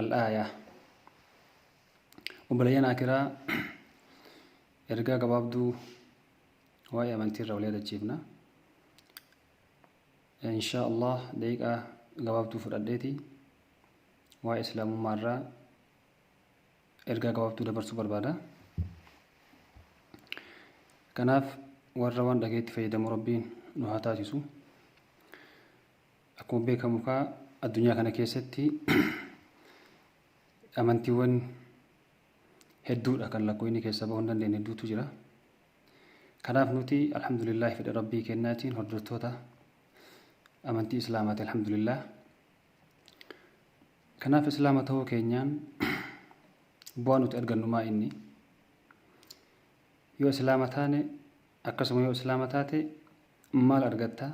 Al-Aayaa Obboleeyyan Akiraa ergaa gabaabduu waa'ee amantii irraa wal yaadachiifna. Inshaa Allah daqiiqaa gabaabduu fudhadheeti waa'ee Islaamummaa irraa ergaa gabaabduu dabarsuu barbaada. Kanaaf warra waan dhageetti fayyadamu Rabbiin nu haa taasisu. Akkuma beekamu kaa addunyaa kana keessatti amantiiwwan hedduudha kan lakkoofni keessa bahuu hin dandeenye hedduutu jira. Kanaaf nuti alhamdulillahi fedha rabbii kennaatiin hordoftoota amantii islaamaati alhamdulillah. Kanaaf islaama ta'uu keenyaan bu'aa nuti argannu maa inni? Yoo Islaama taane akkasuma yoo Islaama taate maal argatta?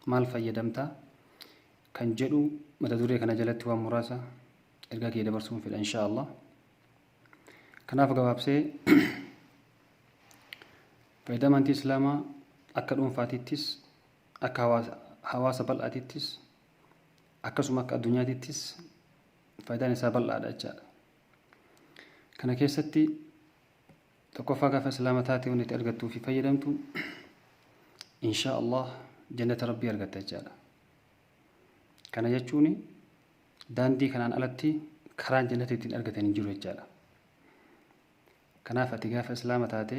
Maal fayyadamta? Kan jedhu mata duree kana jalatti waan muraasa ergaa kiyya dabarsuun fedha insha Allah. Kanaaf gabaabsee faayidaa amantii Islaamaa akka dhuunfaatittis akka hawaasa bal'aatittis akkasuma akka addunyaatittis faayidaan isaa bal'aadha jechaadha. Kana keessatti Tokkoffaa gaafa islaama taate wanti itti argattuu fi fayyadamtu inshaa Allah jannata rabbii argatta jechaadha. Kana jechuun daandii kanaan alatti karaan jannata ittiin argatan hin jiru jechaadha. Kanaaf ati gaafa islaama taate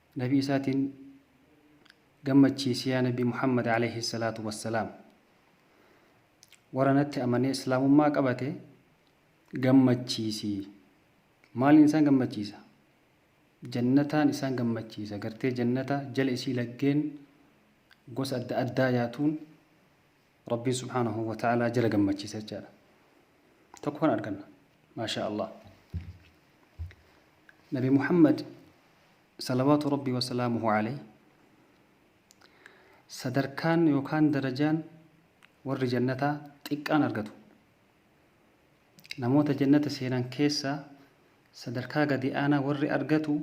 Nabii isaatiin gammachiisi yaa Nabii Muhammad Aleeyhi Salaatu Wassalaam. Warra natti amanee Islaamummaa qabate gammachiisi. Maaliin isaan gammachiisa? Jannataan isaan gammachiisa. Gartee jannata jala isii laggeen gosa adda addaa yaatuun Rabbiin subhaanahu wa ta'aalaa jala gammachiisa jechaadha. Tokko kan arganna. Maashaa Allah. Nabi Muhammad salawaatu Rabbii wa salaamuhu alayhi sadarkaan yookaan darajaan warri jannataa xiqqaan argatu. Namoota jannata seenan keessaa sadarkaa gadi aanaa warri argatu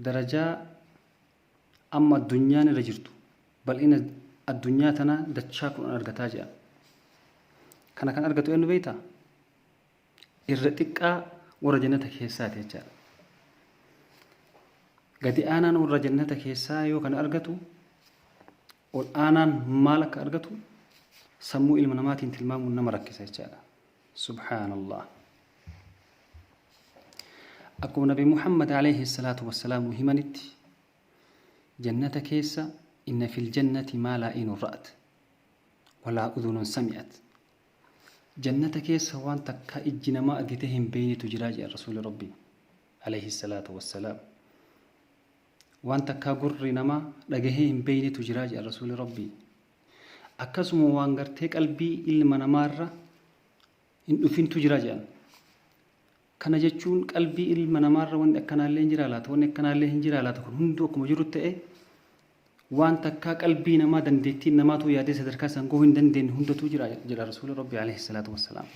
darajaa Amma addunyaan irra jirtu bal'ina addunyaa tanaa dachaa kudhan argataa jedhan. Kana kan argatu eenyu beektaa? Irra xiqqaa warra jannata keessaati jechaadha. Gadi aanaan warra jannata keessaa yoo kana argatu ol aanaan maal akka argatu sammuu ilma namaatiin tilmaamuun nama rakkisa jechaadha. Subhaanallah. Akkuma Nabi Muhammad alayhi salaatu wassalaam nu himanitti jannata keessa inna fil jannati maa laa inun ra'at walaa udunun sami'at. Jannata keessa waan takka ijji namaa argitee hin beeynetu jiraa jedha Rasuuli Rabbii alayhi salaatu wassalaam. Waan takkaa gurri namaa dhagahee hin beeynetu jira jedhan Rasuulli Rabbii. Akkasuma waan gartee qalbii ilma namaarra hin dhufintu jira jedhan. Kana jechuun qalbii ilma namaarra wanni akkanaallee hin jiraa laata, wanni akkanaallee hin jiraa laata kun hunduu akkuma jiru ta'e waan takkaa qalbii namaa dandeettiin namaatuu yaadee sadarkaa san gahuu hin dandeenye hundatuu jira jedha Rasuulli Rabbii alayhi salaatu wassalaam.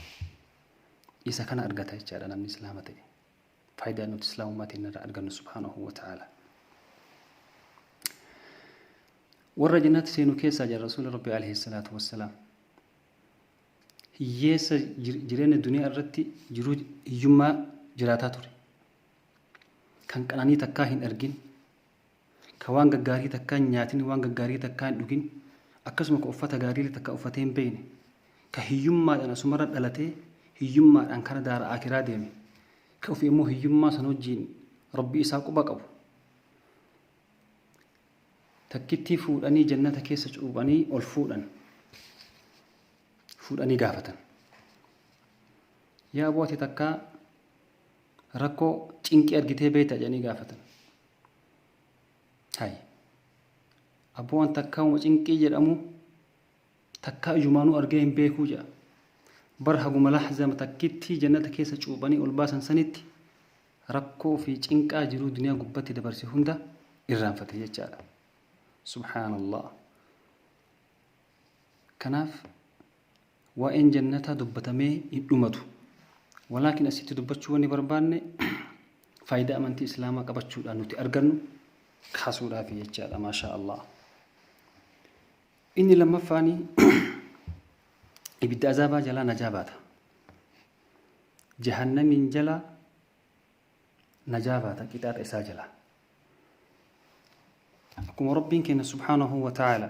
Isa kana argata jechaadha namni Islaama ta'e. Faayidaa nuti Islaamummaa teenna irraa argannu subhaanahu wa ta'aalaa. Warra jannatti seenu keessaa jedha Rasuulli Rabbii alayhi salaatu wassalaam. Hiyyeessa jir- jireenya duniyaa irratti jiruu hiyyummaa jiraataa ture. Kan qananii takkaa hin argin, ka waan gaggaarii takkaa hin nyaatin, waan gaggaarii takkaa hin dhugin, akkasuma ka uffata gaariillee takkaa uffatee hin beeyne, ka hiyyummaadhaan asumarra dhalatee hiyyummaadhaan kara daara aakiraa deeme, ka ufi ammoo hiyyummaa san wajjiin Rabbii isaa quba qabu, takkittii fuudhanii jannata keessa cuuphanii ol fuudhan. Fuudhanii gaafatan. Yaa aboo ati takkaa rakkoo cinqii argitee beeyta jedhanii gaafatan. Hay. Abboo waan takkaa uma cinqii jedhamu takkaa ijumaanuu argee hin beekuu jedha. Bar haguma lahzama takkittii jannata keessa cuuphanii ol baasan sanitti rakkoo fi cinqaa jiruu duniyaa gubbatti dabarse hunda irraanfate jechaadha. Subhaanallah. Kanaaf Waa'een jannataa dubbatamee hin dhumatu. Walaakin asitti dubbachuu wanni barbaanne faayidaa amantii islaamaa qabachuudhaan nuti argannu kaasuudhaafi jechaadha maashaa Allah. Inni lammaffaani ibidda azaabaa jalaa najaa baata. Jahannamiin jalaa najaa baata qixaaxa isaa jalaa. Akkuma Rabbiin keenya subhaanahu wa ta'ala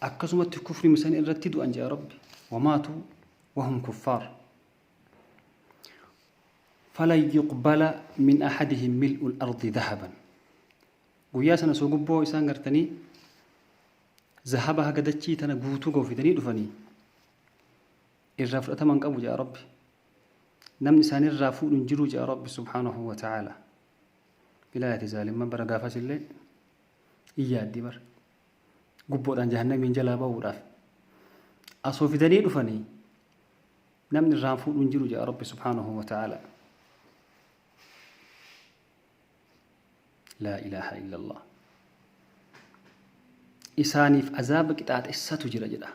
akkasumatti kufrima san irratti du'an jaa rabbi wamaatu wahum kuffaar falan yuqbala min ahadihim mil'ul ardi dahaban guyyaa sana soo gubboo isaan gartanii zahaba haga dachii tana guutuu goofidanii dhufanii irraa fudhataman qabu jaa rabbi namni isaanirraa fuudhu hin jiru jaa rabbi subhaanahu wa ta'aala bilaayati zaalimman bara gaafas illee iyyaaddi bara gubboodhaan jahannamiin jalaa ba'uudhaaf asoo fidanii dhufanii namni irraan fuudhu hin jiru jedha rabbi subhaanahu wa ta'ala laa ilaaha illallah isaaniif azaaba qixaaxessatu jira jedha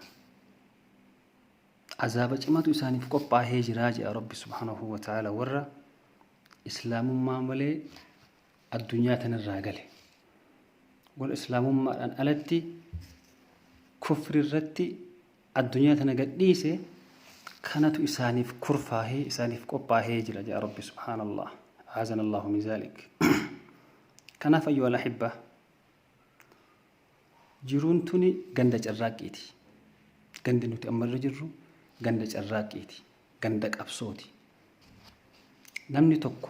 azaaba cimatu isaaniif qophaahee jiraa jedha rabbi subhaanahu wa ta'ala warra islaamummaa malee addunyaa tanarraa gale. Warra Islaamummaadhaan alatti kufri irratti addunyaa tana gadhiise kanatu isaaniif kurfaahee isaaniif qophaahee jira jedha Rabbi subhaanallah. Aazan Allahu min zaalik. Kanaaf ayyuhal ahibba jiruun tuni ganda carraaqqiiti. Gandi nuti amma irra jirru ganda carraaqqiiti. Ganda qabsooti. Namni tokko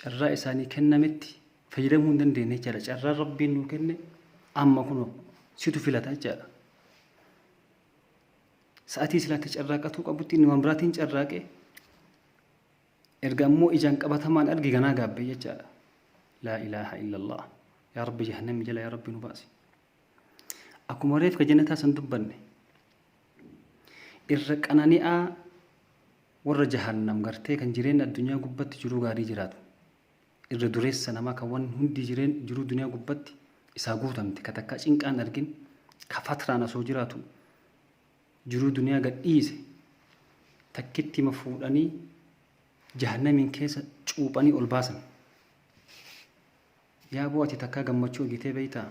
carraa isaanii kennametti fayyadamuu hin dandeenye jechaadha. Carraa rabbiin nuu kenne amma kunoo situ filata jechaadha. Sa'atii silaatti carraaqatuu qabutti inni waan biraatiin carraaqe erga ammoo ijaan qabatamaan arge ganaa gaabbee jechaadha. Laa ilaaha illallah. Yaa rabbi jahannamii jala yaa rabbi nu baasi. Akkuma reefka janataa san dubbanne irra qanani'aa warra jahannam gartee kan jireenya addunyaa gubbatti jiruu gaarii jiraatu irra dureessa namaa kan waan hundi jireen jiruu duniyaa gubbatti isaa guutamte ka takkaa cinqaan argin ka fatraan asoo jiraatu jiruu duniyaa gadhiise takkitti ma fuudhanii jahannamiin keessa cuuphanii ol baasan. Yaaboo ati takkaa gammachuu argitee beektaa?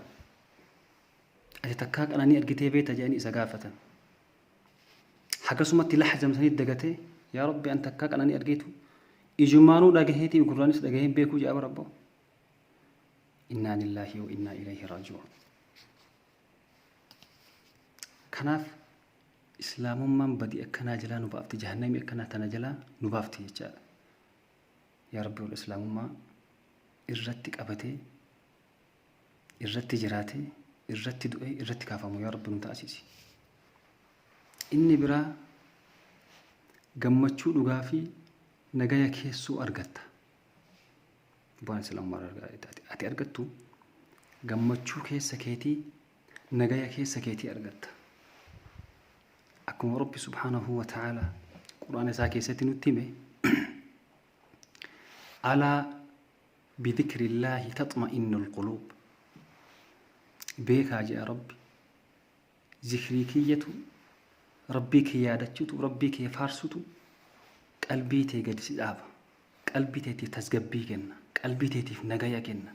Ati takkaa qananii argitee beekta jedhanii isa gaafatan. Hagasumatti lahjam sanii dagatee yaa rabbi an takkaa qananii argeetu ijumaanuu dhagaheetii gurraanis dhagaheen beekuu jedha barabbo. Innaa lillaahi wa innaa ilayhi raaji'uun. Kanaaf islaamummaan badii akkanaa jalaa nu baafti jahannamii akkanaa tana jalaa nu baafti jechaadha. Yaa Rabbi ol Islaamummaa irratti qabatee, irratti jiraatee, irratti du'ee, irratti kaafamu yaa Rabbi nu taasisi. Inni biraa gammachuu dhugaa fi nagaya keessoo argatta. Bu'aan Islaamummaa irraa argaa- ati- ati argattu gammachuu keessa keetii nagaya keessa keetii argatta. Akkuma Rabbi subhaanahu wa ta'ala Qur'aana isaa keessatti nutti hime alaa bidhikrillaahi taxma'innul quluub beekaa jedha Rabbi zikrii kiyyatu Rabbii kee yaadachutu Rabbii kee faarsutu qalbii tee gadi si dhaaba qalbii teetiif tasgabbii kenna qalbii teetiif nagaya kenna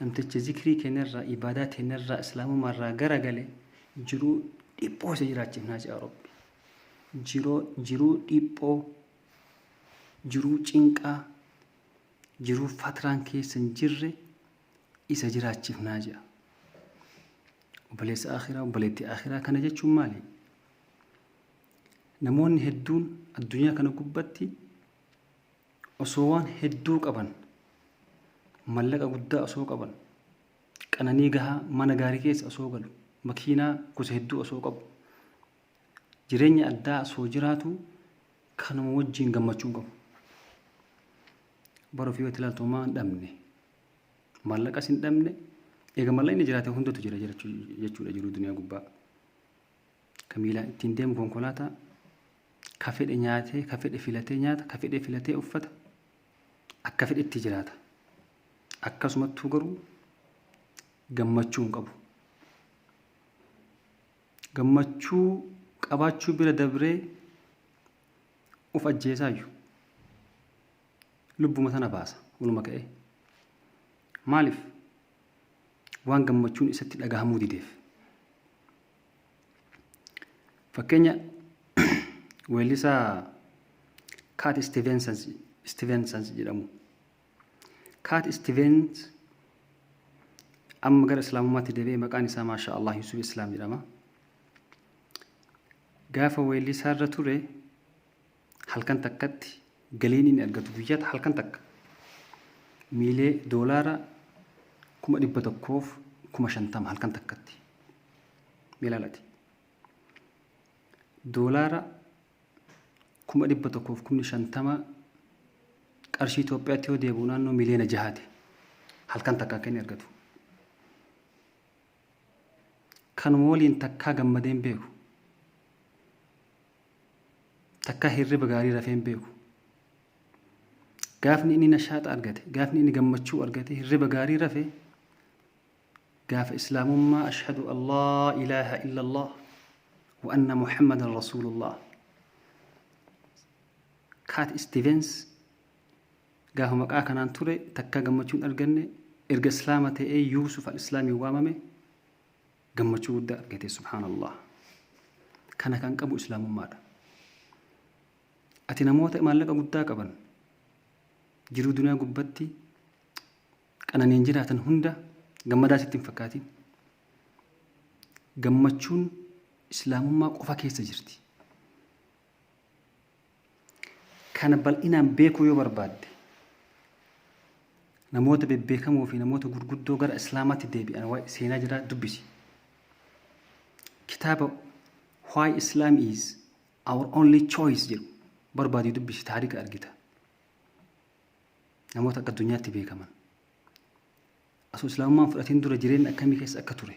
Namticha zikrii keenyarraa, ibaadaa teenyarraa, islaamumaarraa garagale jiruu dhiphoo isa jiraachifnaa ja'a Rabbi. Jiroo, jiruu dhiphoo, jiruu cinqaa, jiruu fatraan keessa hin jirre isa jiraachifnaa ja'a. Obboleessa akhiraa, obboleettii akhiraa kana jechuun maali? Namoonni hedduun addunyaa kana gubbatti Osoo waan hedduu qaban, mallaqa guddaa osoo qaban, qananii gahaa mana gaarii keessa osoo galu, makiinaa gosa hedduu osoo qabu, jireenya addaa osoo jiraatu kanuma wajjin gammachuu hin qabu. Bara ofii yoo itti ilaaltu homaa hin dhabne. Mallaqas hin dhabne. Egaa mallaqni jiraate hundatu jira jechuu- jechuudha jiruu duniyaa gubbaa. Ka miilaan ittiin deemu konkolaataa, ka fedhe nyaatee, ka fedhe filatee nyaata, ka fedhe filatee uffata, akka fedhetti jiraata. Akkasumattuu garuu gammachuu hin qabu. Gammachuu qabaachuu bira dabree of ajjeesaayyu. Lubbuma sana baasa, waluma ka'ee. Maaliif? waan gammachuun isatti dhagahamuu dideef. Fakkeenya weellisaa Kaat Istiveensans jedhamu. Kaat Istiveens amma gara Islaamummaatti deebi'ee maqaan isaa Maashaa Allah Yusuf Islaam jedhama. Gaafa weellisaarra ture Halkan takkatti galiin inni argatu guyyaata halkan takka miilee doolaara kuma dhibba tokkoof kuma shantama halkan takkatti milaalati doolaara kuma dhibba tokkoof kumni shantama qarshii Itoophiyaatti yoo deebi'u naannoo miliyoona jahaati halkan takka akka inni argatu. Kanuma waliin takkaa gammadeen beeku. Takkaa hirriba gaarii rafee hin beeku. Gaafni inni nashaaxa argate, gaafni inni gammachuu argate, hirriba gaarii rafe gaafa islaamummaa ashhadu an laa ilaaha illallah wa anna muhammadan rasuulullah kaat istivens gaafa maqaa kanaan ture takkaa gammachuun arganne erga islaama ta'ee yuusuf al islaamiin waamame Gammachuu guddaa argate subhaanallah. Kana kan qabu islaamummaadha. Ati namoota maallaqa guddaa qaban jiruu duniyaa gubbatti qananiin jiraatan hunda gammadaa sitti hin fakkaatin. Gammachuun islaamummaa qofa keessa jirti. Kana bal'inaan beekuu yoo barbaadde, namoota bebbeekamoo fi namoota gurguddoo gara Islaamaatti deebi'an waa'ee seenaa jiraa dubbisi. Kitaaba Why Islam is Our Only Choice jedhu barbaadii dubbisi taarika argita. Namoota akka addunyaatti beekaman. Asoo Islaamummaan fudhatiin dura jireenya akkamii keessa akka ture.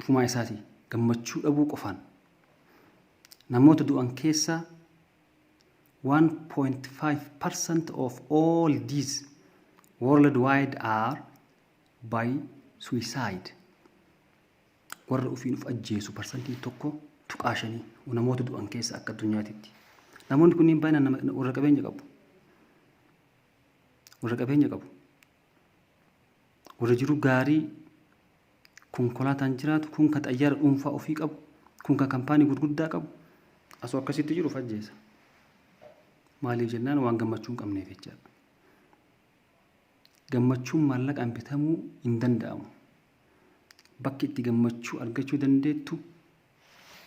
Ofumaa isaatii gammachuu dhabuu qofaan namoota du'an keessaa 1.5% of all deaths worldwide are by suicide. Warra ofiin of ajjeesu parsantiin tokko tuqaa shanii namoota du'an keessa akka addunyaatitti. Namoonni kunniin baay'inaan nama- na- warra qabeenya qabu. Warra qabeenya qabu. Warra jiru gaarii konkolaataan jiraatu, kun ka xayyaara dhuunfaa ofii qabu, kun ka kampaanii gurguddaa qabu, asoo akkasitti jiru of ajjeesa. Maaliif jennaan waan gammachuu hin qabneef jecha. Gammachuun maallaqaan bitamuu hin danda'amu. Bakki itti gammachuu argachuu dandeettu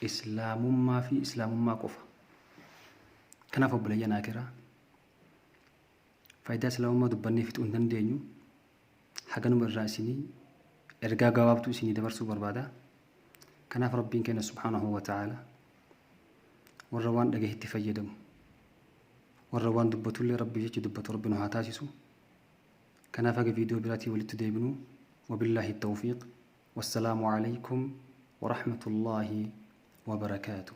islaamummaa fi islaamummaa qofa. Kanaaf obboleeyyan akiraa Faayidaa Islaamummaa dubbannee fixuu hin dandeenyu. Haganuma irraa isinii ergaa gabaabtuu isinii dabarsuu barbaada. Kanaaf Rabbiin keenya subhaanahu wa ta'aala warra waan dhagahetti fayyadamu warra waan dubbatullee Rabbii jecha dubbatu Rabbi nu haa taasisu. Kanaaf haga viidiyoo biraatii walitti deebinu wabillaahi tawfiiq. Wassalaamu alaykum wa rahmatullaahi wa barakaatuh.